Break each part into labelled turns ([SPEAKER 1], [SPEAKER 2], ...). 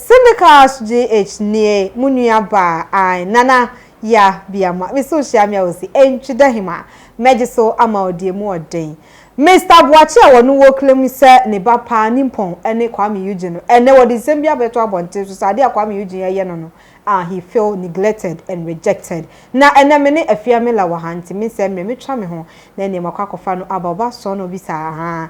[SPEAKER 1] Syndicals GH nie mo nua baa ae nana ya biama me so hyia me a osi entwi da him a mɛgye so ama wo deɛ mu ɔden Mister Boakye a wɔno wɔ claim sɛ ne ba paa nimpɔn ne Kwame Eugene no ɛnɛ wɔde nsɛm bi abɛto abɔnten so sɛ adeɛ a Kwame Eugene ɛyɛ no no a he feel neglected and rejected na ɛnɛ me ne Afia Miller wɔ ha nti me nsɛm mmerɛ me twa me ho na ɛneɛ makɔ akɔfa no aba ɔba sɔɔ na obisaa ahaa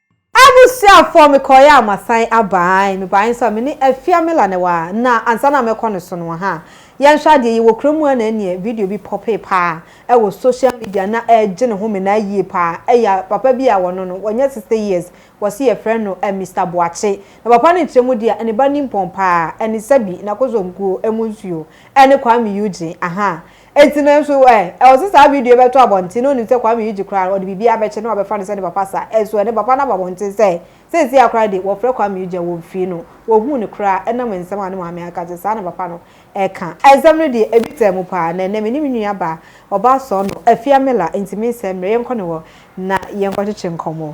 [SPEAKER 1] Abusuafoɔ mekɔeɛ a masan aba ae mebaeɛ nso a mene Afia Miller na ɛwɔ ha na ansa na mɛkɔ no so no wɔ ha yɛnhwɛ adeɛ yɛwɔ kura mu ha na ɛneɛ video bi pɔpee paa ɛwɔ social media na ɛregye ne home na ayie paa ɛyɛ papa bi a wɔno no wanya 60 years wɔse yɛfrɛ no Mister Boakye na papa no nkyerɛ mu deɛ a ne ba nimpɔn paa ɛne sɛbi na kosomkuo ɛmu nsuo ɛne Kwame Eugene ahaa Enti nanso ɛ, ɛwɔ sɛ saa video yi bɛtɔ abɔnten na onim sɛ Kwame Eugye koraa no, ɔde biribiara bɛkyɛ na wɔabɛfa no sɛ ne papa saa. Ɛnso ɛ, ne papa no aba abɔnten sɛ seesei ara koraa de, wɔfrɛ Kwame Eugye a, wɔmfii no. Wɔhuu no koraa ɛnam nsɛm a ne maame aka nti, saa na papa no ka. Nsɛm no deɛ, ebi taa mu paa. Na ɛnnɛ, me ne me nuabaa, ɔbaa sɔɔnɔ, Afia Miller, enti mensɛe mmerɛ, yɛnkɔ ne hɔ na yɛnkɔkyekye nkɔmmɔ.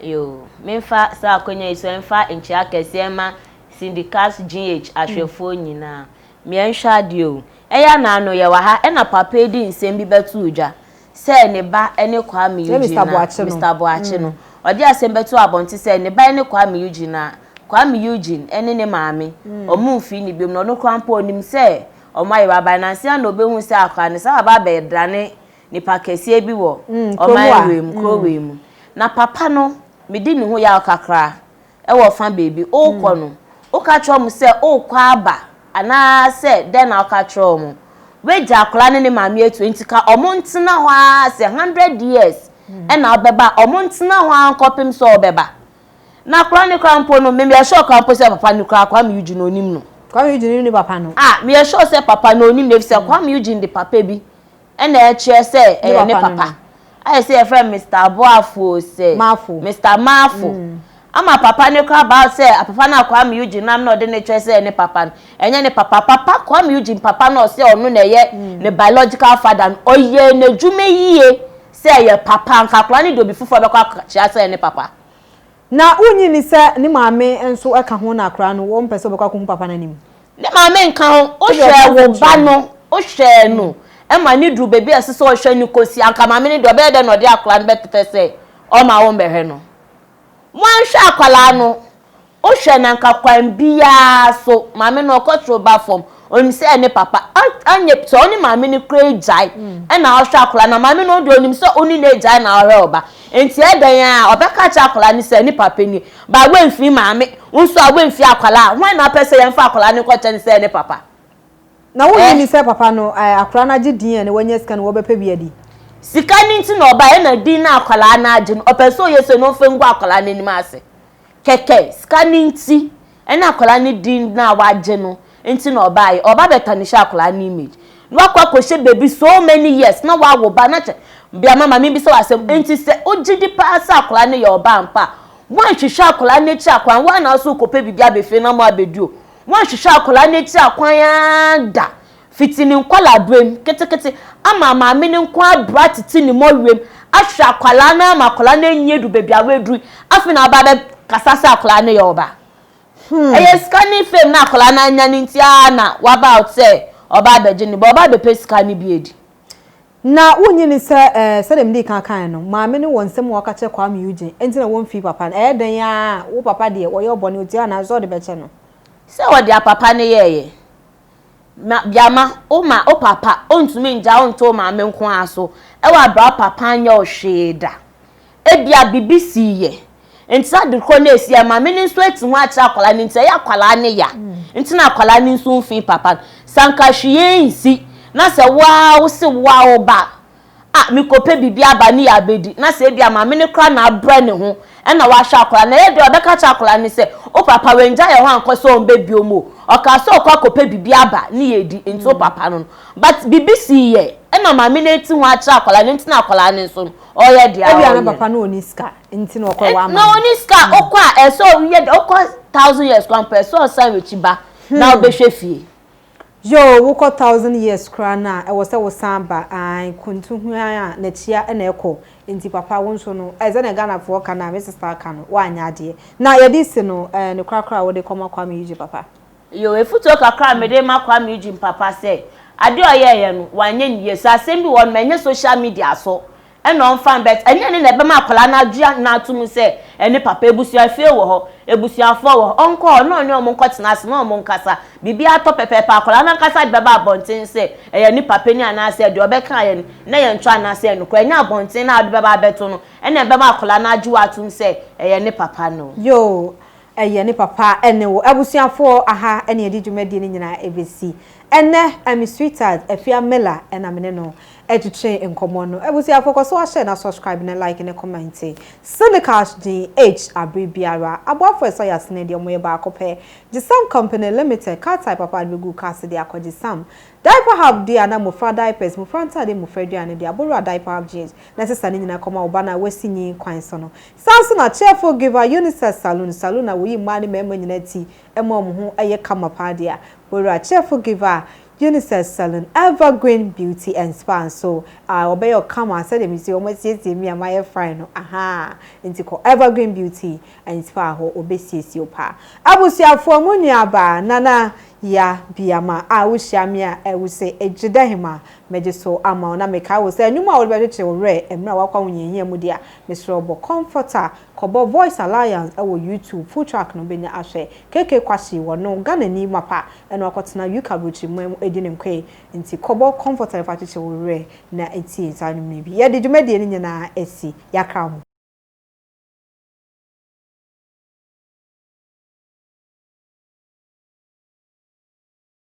[SPEAKER 1] Yoo,
[SPEAKER 2] memfa saa akwanya yi so mfa nkyia kɛseɛ mma Syndicast GH ahwɛfoɔ nyinaa. Me anhwɛ adeɛ oo, ɛyɛ a na ano yɛ wɔ ha ɛna papa yi de nsɛm bi bɛtoo dwa sɛ ne ba ne Kwame Eugene na Mister Boakye no, ɔde asɛm bɛtoo abɔnten sɛ ne ba ne Kwame Eugene na Kwame Eugene ne ne maame wɔn mfii no biom na ɔno koraa mpo ɔnim sɛ wɔn ayera aban. Nansa na ɔbɛhuu sɛ akwadaa no saa aba abɛdane Nipa kɛseɛ bi wɔ ɔman wei mu, kuro wei mu. Na papa no, medi ne ho yaw kakra wɔ fa baabi. Wokɔ no, woka kyerɛ wɔn sɛ worekɔ aba anaasɛ dɛn na woka kyerɛ wɔn? Woagya akwadaa ne ne maame atu enti ka wɔntena hɔ ara sɛ hundred years na wobɛba a, wɔntena hɔ ara nkɔpem sɛ wobɛba. Na akwadaa no koraa mpo no, me meyɛ sure koraa mpo sɛ papa no koraa, Kwame Eugene ɔnnim no. Kwame Eugene nnim ne papa
[SPEAKER 1] no? Ah, meyɛ sure sɛ papa
[SPEAKER 2] no ɔnnim no efisɛ Kwame Eugene de papa bi Ɛna ɛkyerɛ sɛ ɛyɛ ne papa. Ayɛ sɛ yɛfrɛ no Mister Aboafoɔ sɛ. Maafo. Mister Maafo. Ama papa no kora about sɛ papa no a Kwame Eugene nam na ɔde no kyerɛ sɛ ɛyɛ ne papa no, ɛnyɛ ne papa. Papa, Kwame Eugene papa no a ɔse ɔno na ɛyɛ ne biological father no, ɔyɛɛ n'adwuma yie sɛ ɛyɛ papa. Anka akwadaa no de obi foforɔ bɛkɔ akɔkyerɛ sɛ ɛyɛ ne papa. Na wonnye
[SPEAKER 1] nni sɛ ne maame nso ka ho na akwadaa no, ɔmpɛ sɛ ɔbɛkɔ akɔhu papa no anim. Ne maame nka ho.
[SPEAKER 2] Wohwɛ wo ba no, wohwɛ no ma no duru baabi a ɛsɛ sɛ ɔhwɛ no kɔsi, anka maame no deɛ ɔbɛyɛ dɛn na ɔde akwadaa no bɛpɛ sɛ ɔma wommɛhwɛ no? Moanhwɛ akwadaa no, wohwɛ no anka kwan biara so, maame no ɔkɔtoro ba fam. Onim sɛ ne papa anyɛ sɛ ɔne maame no kura agyae na ɔhwɛ akwadaa no a, maame no deɛ onim sɛ ɔne n'agyae na ɔhwɛ ɔba. Nti ɛdɛn a, ɔbɛka akyerɛ akwadaa no sɛ ne papa nie. But woamfiri maame, wo nso a woamfiri akwadaa a, hwan na wopɛ sɛ yɛmfa akwadaa no nkɔkyɛ no sɛ ne papa? Na wonnye
[SPEAKER 1] nni sɛ papa no, akwadaa no agye din na wanya sika na wɔbɛpɛ bi adi? Sika no nti
[SPEAKER 2] na ɔbaeɛ na din no a akwadaa no agye no, ɔpɛ sɛ ɔyɛ sei na ɔmfa ngu akwadaa no anim ase. Kɛkɛ, sika no nti Ɛne akwadaa no din no a wagye no nti na ɔbaeɛ. Ɔba bɛtɔ ne hyɛ akwadaa no image. Na wakɔ akɔhyɛ baabi so many years na wawo ba na kyɛ. Biama ma mebisa wo asɛm. Nti sɛ wogye di paa sɛ akwadaa no yɛ ɔba ampa a, woanhwehwɛ akwadaa no akyi akwan? Woa na wo nso wokɔpɛ biribi abɛfie na moabɛdi o. Woanhwehwɛ akwadaa no akyi akwan ara da Fitsi ne nkɔlaaberɛ mu, ketseketse ama maame no nko abra tsetse ne mɔweɛ mu ahwɛ akwadaa no ama akwadaa no enyi edu beebi a oedur yi, afei na ɔaba abɛkasa sɛ akwadaa no yɛ ɔba. Ɔyɛ sika ne fame no a akwadaa no anya no ntsi ara na ɔaba out sɛ ɔreba abɛgye ne ba, ɔreba abɛpɛ sika no bi edi. Na
[SPEAKER 1] wonnye nni sɛ, ɛɛ, sɛdeɛ medii kan kaeɛ no, maame no wɔ nsɛm a ɔka kyerɛ Kwame Eugene, enti na wɔmfii papa no. Ɛyɛ dɛn ara a, wo papa deɛ, ɔyɛɛ wo bɔne, ɔtuaa no, ansa ɔde bɛkyɛ no. Sɛ ɔde apapa
[SPEAKER 2] no yɛeɛ, Ma biama wo ma wo papa ontumi ngya wo nto wo maame nko ara so wɔ aberɛ a wo papa anyɛ wo hwee da. Ebia biribi sii yɛ nti saa ade korɔ no a ɛsii yɛ no maame no nso ati ho akyerɛ akwadaa no nti ɛyɛ akwadaa no ya nti na akwadaa no nso mfii papa no. Sɛ anka hwee nsi na sɛ wo ara wo se wo ara wo ba a mekɔpɛ biribi aba ne yɛ abɛdi na sɛ ebia maame no koraa na abrɛ ne ho na wahwɛ akwadaa no, ɛyɛ dɛn a ɔbɛka akyerɛ akwadaa no sɛ, Wo papa wannyae yɛn hɔ ankɔ sɛ ɔmmba biom o, ɔkaa sɛ ɔrekɔ akɔpɛ biribi aba ne yɛ adi, enti wo papa no no. But biribi sii yɛ na maame no ati ho akyerɛ akwadaa no, enti na akwadaa no nso no, ɔreyɛ deɛ ɔreyɛ no. Ebia na papa no ɔnni
[SPEAKER 1] sika, enti na ɔkɔɔ wama no. Na ɔnni sika, ɔkɔ
[SPEAKER 2] a ɛsɛ ɔyɛ deɛ ɔkɔ thousand years koraa mpo ɛsɛ ɔsan n'akyi ba na ɔbɛhwɛ fie. Yoo
[SPEAKER 1] wokɔ thousand years koraa no a ɛwɔ sɛ wo san ba ae kuntu huan a nakyia na ɛkɔ nti papa wo nso no ɛɛ sɛnea Ghanafoɔ ka no a me sister ka no woanyɛ adeɛ na yɛde si no ɛɛ ne korakora a wode kɔma Kwame Eugene papa. Yoo efutuo
[SPEAKER 2] kakra a mede rema Kwame Eugene papa sɛ adeɛ a ɔyɛɛyɛ no wanyɛ no yie sɛ asɛm bi wɔ hɔ nom ɛnyɛ social media so Ɛna ɔmfa mbɛt ɛnyɛ ne na ɛbɛma akwadaa no agye no ato mu sɛ ɛne papa. Abusua fie wɔ hɔ, abusuafoɔ wɔ hɔ, ɔnkɔ hɔ na ɔne wɔn nkɔtena ase na wɔn nkasa. Biribi atɔ pɛpɛɛpɛ akwadaa no ankasa de bɛba abɔnten sɛ ɛyɛ ne papa ni anaasɛ deɛ ɔbɛkaeɛ no na ɛyɛ ntwa anaasɛ ɛyɛ nokorɛ. Ɛnyɛ abɔnten no a wode bɛba abɛto no ɛna ɛbɛma akwadaa no agye wo atom sɛ ɛyɛ ne papa no. Yoo,
[SPEAKER 1] Ɛyɛ ne papa ne wo abusuafoɔ aha na yɛde dwumadie no nyinaa ɛbɛsi. Ɛnnɛ, I'm his sweetheart, Afia Miller, na me ne no retwetwe nkɔmmɔ no. Abusuafoɔ, kɔ so ahyɛ na subscribe ne like ne comment. Syndikash GH, abere biara, aboafoɔ a ɛsɔ yɛn asene deɛ wɔyɛ baako pɛ. Gyesam Company Limited, car tyre papa de bɛgu wo car se de akɔ Gyesam. Diaper Hub deɛ a na mmofra diapers, mmofra ntaade, mmofra aduane deɛ abowura diaper hub GH na ɛsesa ne nyinaa kɔma wo ba no a wasi nyin kwan so no. Saa ara nso na Chefo Giver Yunisas Salun Salun a woyi mmaa ne mmarima nyinaa ti ma wɔn ho yɛ kama paa deɛ a, Owura Chefo Giver Yunisas Salun Evergreen Beauty and Spa nso a, wɔbɛyɛ wo kama sɛdeɛ me nso yi wɔasiesie me a mayɛ fine no, ahaa, nti kɔ Evergreen Beauty and Spa hɔ, wɔbɛsiesie wo paa. Abusuafoɔ, mo nuabaa, Nana Yaa Biamah a wohyia me a, wose Egyedahima. Megye so ama wo na mekae wo sɛ nnwom a wode bɛkyekyere wo werɛ mmerɛ a woakwa wo nhiahia mu deɛ a, mesrɛ wo bɔ Comforter, kɔbɔ Voice Alliance wɔ YouTube, full track no bɛnya ahwɛ. KK Kwashy wɔ no, Ghanani mapa, ɛna wakɔtena UK aburokyire man mu ɛdi ne nkoe, nti kɔbɔ Comforter fa kyekyere wo werɛ na tie saa nnwom no bi. Yɛde dwumadie no nyinaa asi Yɛakra ho.